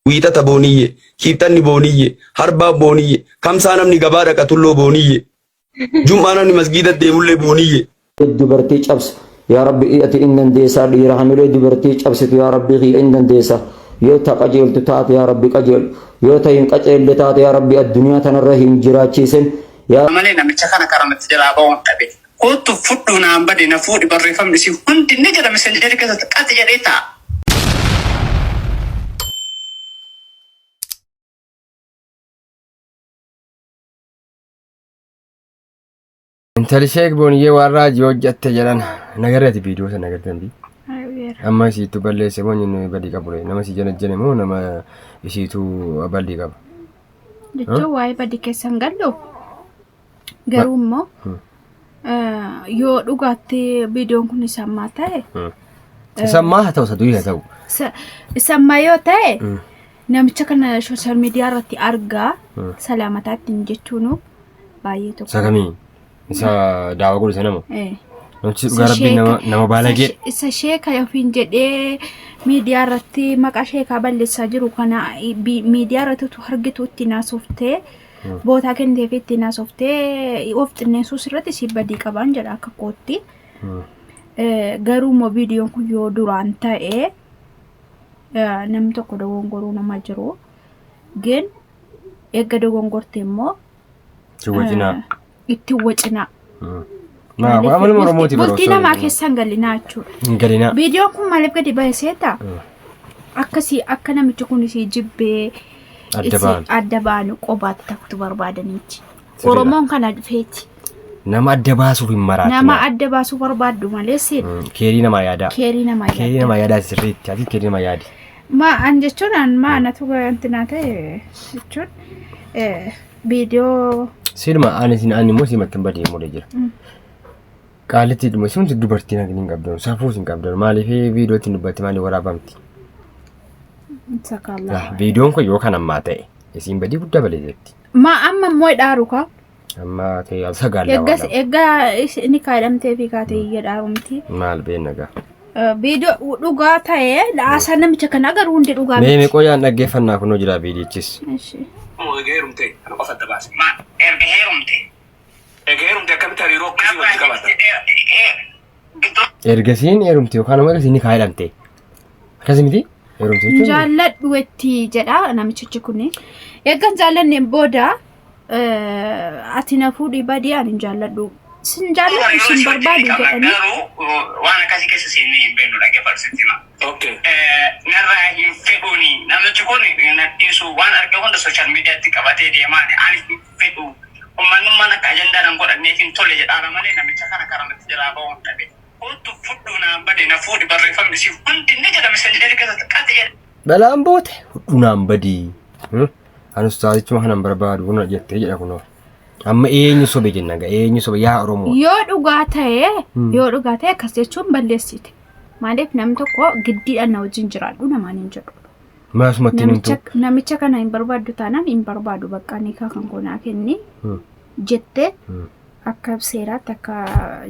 Wiixata Booniyyee, Kiibxanni Booniyyee, Harbaan Booniyyee, Kamsaa namni gabaa dhaqa Tulloo Booniyyee, Jum'aa namni masgiida deemullee Booniyyee. dubartii cabsu yaa rabbi ati in dandeessaa dhiira hamilee dubartii cabsitu yaa rabbii kiyya in dandeessaa yoo ta qajeeltu taate yaa rabbi qajeelu yoo ta hin qajeelle taate yaa rabbi addunyaa tanarra hin jiraachiisin yaa Ammalee namicha kana karaa natti jalaa ba'uun dhabe. Koottu fudhu naan bade na fuudhi barreeffamni isii hundi ni jira messengerii keessatti qaxi jedhee ta'a. Intali sheek booniyyee waan raajii hojjatte jedhan nagarrati viidiyoo sana agartan bi. Amma isiitu balleesse moo inni badii qabu ree nama si janajjane moo nama isiitu bal'ii qaba. Jechuun waa'ee badii keessan gallu Garuu immoo yoo dhugaatti viidiyoon kun isammaa ta'e. Isammaa haa ta'u saduu haa ta'u. Isammaa yoo ta'e namicha kana sooshaal miidiyaa irratti argaa salaamataatti hin jechuun baay'ee tokko. Isa kamii? Isa daawaa godhu isa nama. Namichi dhugaa rabbiin nama nama baalagee. Isa sheeka ofiin jedhee miidiyaa irratti maqaa sheekaa balleessaa jiru kana miidiyaa irratti utuu argitu itti naasoftee bootaa kennitee fi ittiin haasoftee of xinneessuu sirratti si badii qabaan jedha akka kootti. Garuu immoo viidiyoon kun yoo duraan ta'e namni tokko dogongoruu nama jiru. Gin eegga dogongorte immoo. Si wajjinaa. itti hin wacinaa. Maaf amaluma Oromooti baroo. Bultii namaa keessa hin galinaa jechuudha. Hin galinaa. Viidiyoo kun maaliif gadi ba'e seeta? Akkasii akka namichi kun isii jibbee Adda isii ba'an. adda baanu qobaatti takkutu barbaadaniiti. Sirriidha. Oromoon kana dhufeeti. Nama adda baasuuf hin maraatu. Nama adda baasuu barbaaddu malee seeta. Mm, Keerii namaa yaadaa. Keerii namaa Keerii yaadda. namaa yaadaa sirriitti. Ati keerii namaa yaadi. Ma an jechuun an ma anatu wanti naa ta'e jechuun eh, viidiyoo Silma ani sin ani immoo simattan badee mulee jira. Qaalitti dhuma sun dubartiin hagni hin qabdan safuu hin qabdan maaliif viidiyootti dubbatti maaliif waraabamti. isa kaallaa. Lah viidiyoon kun yoo kan ammaa ta'e isiin badii guddaa balee jirti. Ma amma immoo dhaaru kaa. Amma ta'e sagaalaa Eeggas waan eeggaa is- inni kaadhamtee fi kaatee iyya dhaarumti. maal beenna gaa. Viidiyoo dhugaa ta'ee haasaan namicha kana agaruu hundi dhugaa Mee miti. mee qoyaan dhaggeeffannaa kunoo jira viidiyichis. Ishi. Moo egaa heerumte kan qofa adda baase. Maal? Erga heerumte. Egaa heerumte akkamitti hariiroo akkasii walitti qabatta? Gidduu Ergasiin heerumte yookaan ammoo ergasiin ni kaayedhamte. Akkasi miti? Heerumte jechuun. Jaalladhu itti jedha namichichi kun. Eeggan jaallanneen booda eh, ati na fuudhii badii ani hin jaalladhu sin jaalladhu sin barbaadu jedhanii Garuu waan akkasii keessa seennee hin beeknu dhaggeeffadhu sitti hima. Okay. Eh, Narraa hin fedhuuni namichi kun na dhiisu waan arge hunda sooshaal miidiyaatti qabatee deemaa ani hin fedhu uummanummaan akka ajandaa nan godhanneef hin tole jedhaara malee namicha kana karaa natti jalaa ba'uu hin dhabe. Kottu fudhu naan bade na fuudhi barreeffamni siif hundi ni jedhame seenteeri keessatti qati jedhe. Dhalaan boote hudhunaan badii. Kan ustaazichuma kanan barbaadu kun jettee jedha kunoo. Amma eenyu sobe jenna gaa eenyu sobe yaa Oromoo. Yoo dhugaa ta'e Hmm. yoo dhugaa ta'e akkas jechuun balleessite. Maaliif namni tokko giddiidhaan na wajjin jiraadhu namaan hin jedhu. Maasumatti hin Namicha, himtu. namicha kana hin barbaaddu taanaan hin barbaadu bakka nikaa kan koonaa kenni Hmm. jette Hmm. Akka seeraatti akka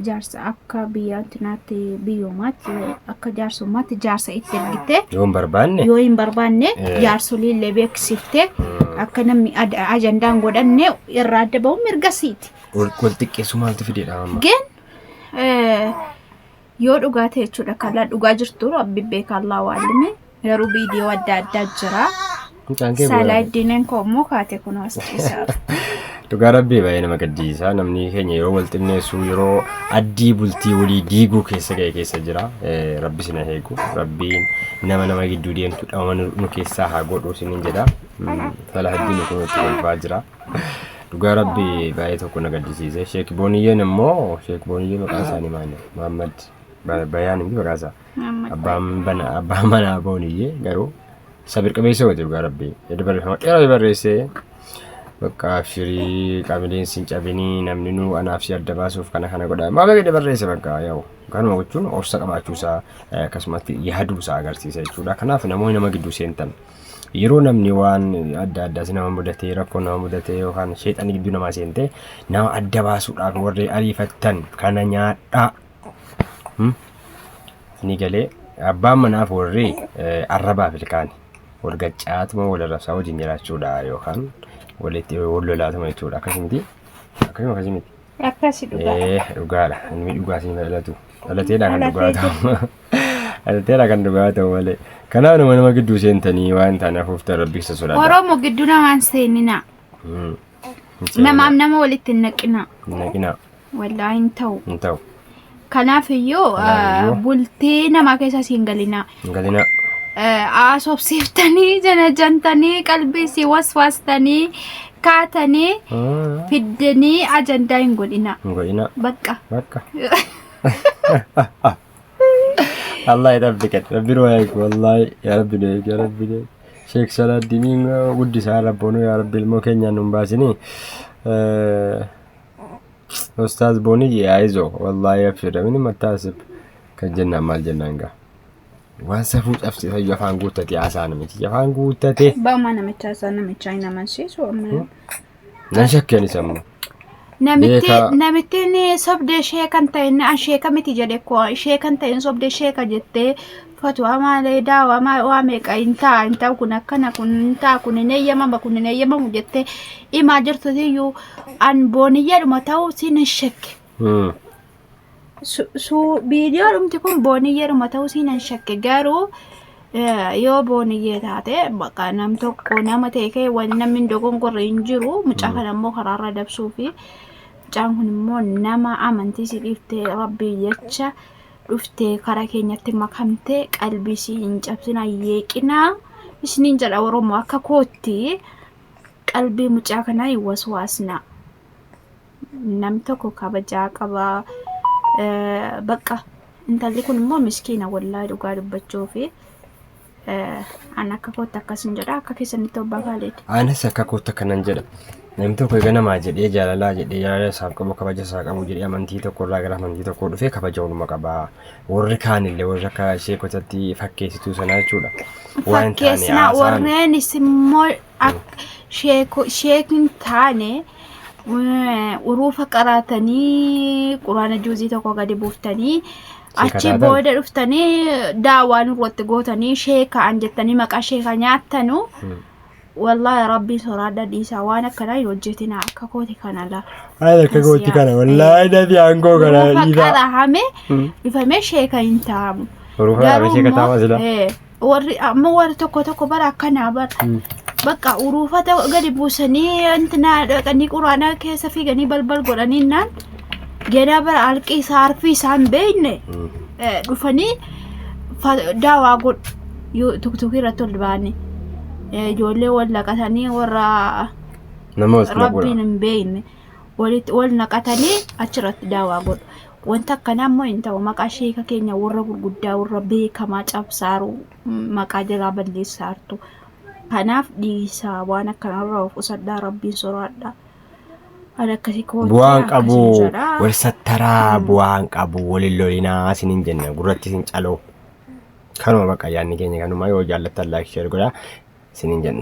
jaarsa akka biyya antinaatti biyyoomaatti akka jaarsummaatti jaarsa itti ergitee Yoo hin barbaanne yoo hin barbaanne Eh. jaarsolii illee beeksiftee akka namni ad- ajandaan godhanne irraa adda ba'uun mirga siiti. wal wal xiqqeessuu maaltu fideedha amma? Gen eh, Yoo dhugaa ta'e jechuudha kallaa dhugaa jirtu rabbi beeka allaa waalime garuu viidiyoo adda addaa jira. Mucaan kee Saalaa bu'uura. iddiineen koo immoo kaate kun haasofsiisaa. Dhugaa rabbii baay'ee nama gaddisiisa. Namni keenya yeroo wal xinneessu yeroo addii bultii walii diiguu keessa ga'e keessa jira. Eh, Rabbi sina eegu. Rabbiin nama nama gidduu deemtu dhamama nu nu keessaa haa godhu sinin jedha. Mm, Salaahaddin kun itti kolfaa jira. Dhugaa rabbi baay'ee tokko na gaddisiise. Sheek Booniyyeen immoo Sheek Booniyyee maqaa isaanii maali? Muhammad Ba- Bayaan miti maqaa isaa. Muhammad Abbaan bana abbaan manaa Booniyyee garuu sabir qabeessa godhe dhugaa rabbi. Edda barreeffama dheeraa barreessee bakka abshirii qamileen sin cabinii namni nu anaaf si adda baasuuf kana kana godha. Maa beekne barreesse bakka yaa'u. Kanuma gochuun obsa qabaachuu isaa eh, akkasumatti yaaduu isaa agarsiisa jechuudha. Kanaaf namoonni nama gidduu seentan Yeroo namni waan adda addaa si nama mudatee rakkoo nama mudatee yookaan sheexanni gidduu namaa seentee nama adda baasuudhaaf warri ariifattan kana nyaadhaa. Hmm? Ni galee abbaan manaaf warri eh, arrabaaf ilkaani wal gaccaatuma wal arrabsaa wajjin jiraachuudha yookaan walitti wal lolaatuma jechuudha akkasii miti akkasuma akkasii miti. Akkasi dhugaa. Eh, dhugaadha. Inni dhugaa siin dhalatu. Dhalateedha kan Dhalatee dhugaa ta'u. Alteera kan dhugaa ta'u malee. Kanaaf nama nama gidduu seentanii waan ta'an hafuuftan rabbi isa sodaadha. Oromoo gidduu namaan seeninaa. Mm. Namaaf nama walitti hin naqinaa. Naqinaa Wallaahi hin ta'u. hin ta'u. Kanaaf iyyuu Kanaafiyyu. bultii namaa keessa siin galinaa. Hin galinaa. Asobsiiftanii janajantanii qalbii si waswaastanii kaatanii Mm. fiddanii ajandaa hin godhinaa. Hin godhinaa. Bakka. Bakka. Allah ya rabbi kan rabbi nu eegu wallahi ya rabbi nu eegu ya rabbi nu eegu sheek salaaddiiniin guddisaa rabboonu ya rabbi ilmoo keenyaan nun baasinii ustaaz booniyye ayizo wallahi abshira mini mattaasib kan jennaan maal jennaan gaa waan safuu cabsisa ija afaan guuttate haasaan miti ija afaan guuttate Ba'umaa namicha isaa namicha hin amansiisu amma Nan shakke anis amma. Namitti Beekaa. namittiin sobdee ishee kan ta'e inni an sheeka miti jedhe ko ishee kan ta'e sobdee sheeka jettee fatuwaa maalee daawaa maa waa meeqa hin ta'a hin ta'u kun akkana kun hin ta'a kun hin eeyyamama kun hin eeyyamamu jettee himaa jirtutiyyuu an booniyyaadhuma ta'u siin hin shekke. Hmm. viidiyoo dhumti kun booniyyeeruma ta'uu siinan shakke garuu yoo booniyyee taate bakka nam tokko nama ta'e kee waan namni dogongorre hin jiru mucaa kana immoo karaarra dabsuu fi mucaan kun immoo nama amantii si dhiiftee rabbii jecha dhuftee karaa keenyatti makamtee qalbii si hin cabsina yeeqinaa isiniin jedha oromoo akka kootti qalbii mucaa kanaa hin waswaasna. nam tokko kabajaa qaba bakka intalli kun immoo miskiina wallaahi dhugaa dubbachuu fi an akka kootti akkasin jedha akka keessanitti obbaa kaaleeti. Anis akka kootti akkanan jedha. Namni tokko egaa namaa jedhee jaalalaa jedhee jaalala isaaf qabu kabaja isaa qabu jedhee amantii tokko irraa gara amantii tokkoo dhufee kabaja waluma qaba. Warri kaanillee warri akka ishee kotatti fakkeessituu sanaa jechuudha. Waan hin taane Fakkeessinaa haasa'an. warreenis immoo Akka sheeko- sheek hin taane eh, uruufa qaraatanii quraana juuzii tokko gadi buuftanii achi taatan? booda dhuftanii daawaa nurratti gootanii sheekaan jettanii maqaa sheekaa nyaattanu wallaahi rabbiin soraadha dhiisaa waan akkanaa hin hojjetina akka kooti kana la Haala akka gootti kana wallaahi dafii aangoo kana uruufa dhiisaa. qarahame Mm. dhufamee sheeka hin taamu Uruufa dhaabee sheeka taama sila. eh, warri amma warri tokko tokko bara akkanaa bara bakka uruufata gadi buusanii intinaa dhaqanii quraanaa keessa fiiganii balbal godhanii naan ganaa bara alqii isaa harfii isaa hin beekne eh, dhufanii fa- daawaa godhu Yu- tuktukii irratti ol ba'anii Eh, ijoollee wal naqatanii warra Nama walitti rabbiin naqudha. hin beekne walitti wal naqatanii achirratti daawaa godhu Wanti akkanaa immoo hin ta'u. Maqaa sheeka keenya warra gurguddaa warra beekamaa cabsaaru maqaa jalaa balleessaartu. Kanaaf dhiisaa waan akkanarraa of qusadhaa rabbiin soraadhaa. An akkasii kootee bu'aan qabu akkasiin jedha. wal sattaraa bu'aan qabu walin lolinaa isinin jenna gurratti isin caloo kanuma baqa yaanni keenya kanuma yoo jaallattan laayik sheer godhaa isinin jenna.